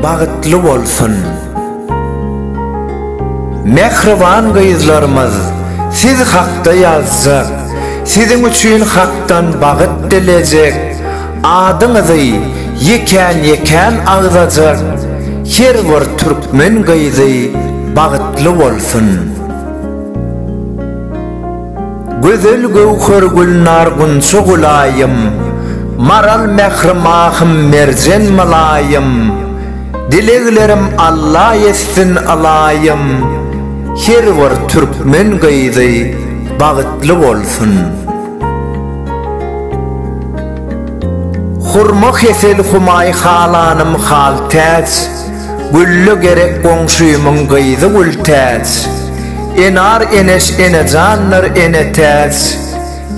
bagtly bolsun. Mehriban gyzlarymyz, siz hakda ýazjak, siziň üçin hakdan bagyt dilejek, adyňyzy ýekän-ýekän agzajak her bir türkmen gyzy bagtly bolsun. Gözel göwher gülnar gunça gulaýym, Maral mähri mahym merjen mylaýym, Dileglerim Alla ýetsin ylaýym, Her bir türkmen gyzy bagytly bolsun. Hurma hesel humaý halanym hal täç, Gülle gerek goňşymyň gyzy Gültäç, Enar Eneş Enejanlar Enetäç,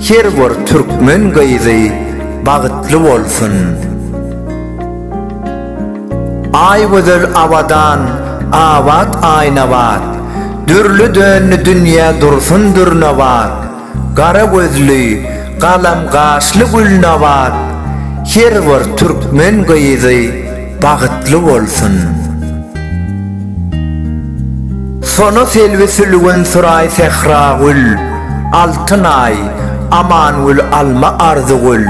Her bir türkmen gyzy bagytly bolsun. Aýgözel Abadan Abat Aýnabat, Dürli döndi dünýä dursun dürnabat. Gara gözli, galam gaşly Gülnabat her bir türkmen gyzy bagytly bolsun. Sona Selbi Sülgün Suraý Sähragül Altynaý Amangül Alma Arzygül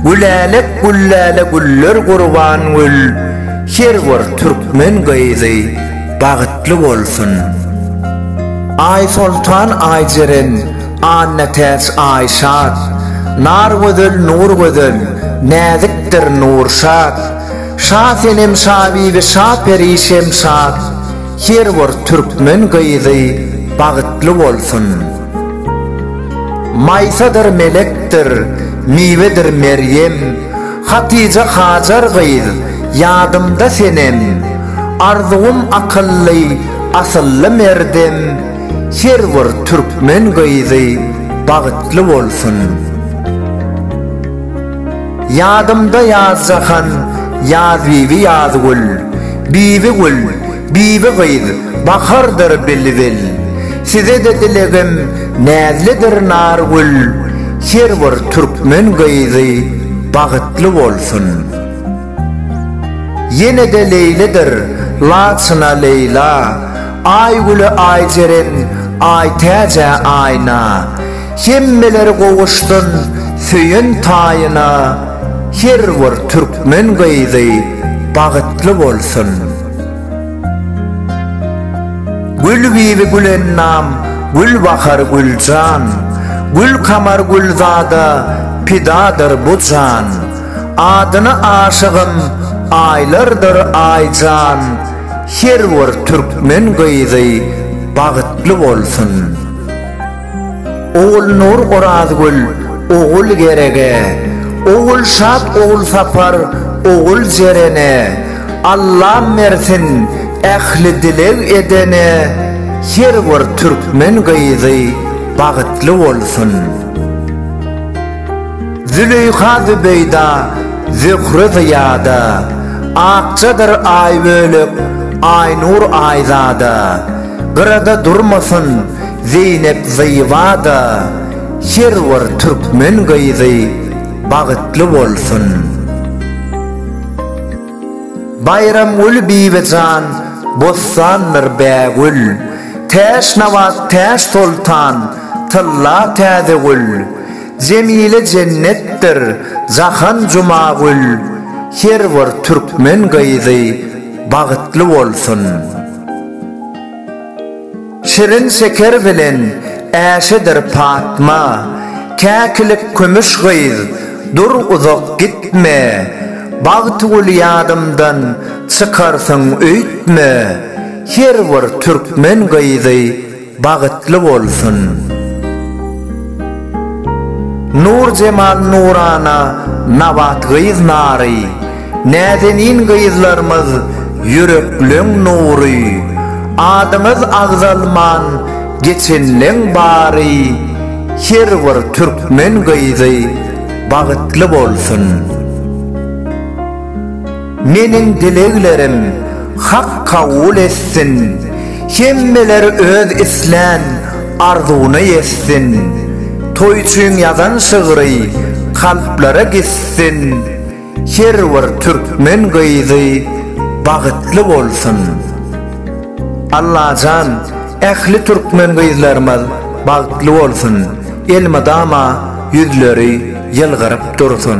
Gülälek Güllälä Güller Gurbangül her bir türkmen gyzy bagtly bolsun. Aýsoltan Aýjeren Annatäç Aýşat Nargözel Nurgözel Näzikdir Nurşat Şa Senem Şabibi Şa Peri Şemşat Her bir türkmen gyzy bagtly bolsun. Maýsadyr Melekdir Miwedir Merýem Hatyja Hajar gyz ýadymda senem, Arzuwym akylly, asylly merdem, Her bir türkmen gyzy bagytly bolsun. Ýadymda Ýazjahan, Ýazbibi Ýazgül, Bibigül, Bibi gyz, Bahardyr bilbil. Size-de dilegim Näzlidir Nargül, Her bir türkmen gyzy Bagytly bolsun. Ýene-de Leýlidir Laçyna Leýla, Aýgüle Aýjeren, Aýtäjä Aýna, Hemmeler gowuşsyn Söýen taýyna, Her bir türkmen gyzy Bagytly bolsun. Gül bibi Gülennam Gülbahar Güljan Gülkamar Gülzada pidadyr bu jan Adyna aşygym aýlardyr Aýjan Her bir türkmen gyzy bagtly bolsun. Ogulnur Orazgül, Ogul Gerege, Ogulşat Ogulsapar, Ogul Jerene, Allam bersin ähli dileg edene, her bir türkmen gyzy bagytly bolsun. Züleýha Zübeýda, Zöhre Zyýada, Akjadyr Aýbölek, Aýnur Aýzada, Gyrada durmasyn, Zeýnep Zyba-da her bir türkmen gyzy bagytly bolsun! Baýramgül Bibijan bossandyr bägül, Täşnabat Täşsoltan tylla täze gül, Jemile jennetdir jahan Jumagül, Her bir türkmen gyzy bagytly bolsun! Şirin şeker bilen äşedir Patma, Käkilik kümüş gyz, dur uzak gitme, Bagtygül ýadymdan çykarsyň öýtme, Her bir türkmen gyzy bagytly bolsun. Nur jemal nurana nabat gyz nary, Näzenin gyzlarymyz ýürekleň nury Adyňyz agzalman geçenleň bary Her bir türkmen gyzy bagytly bolsun Meniň dileglerim Hak kabul etsin Hemmeler öz islän arzuwyna ýetsin Toý üçin ýazan şygry kalplara gitsin. Her bir türkmen gyzy bagytly bolsun. Allajan ähli türkmen gyzlarymyz bagtly bolsun elmydama ýüzleri ýylgyryp dursun.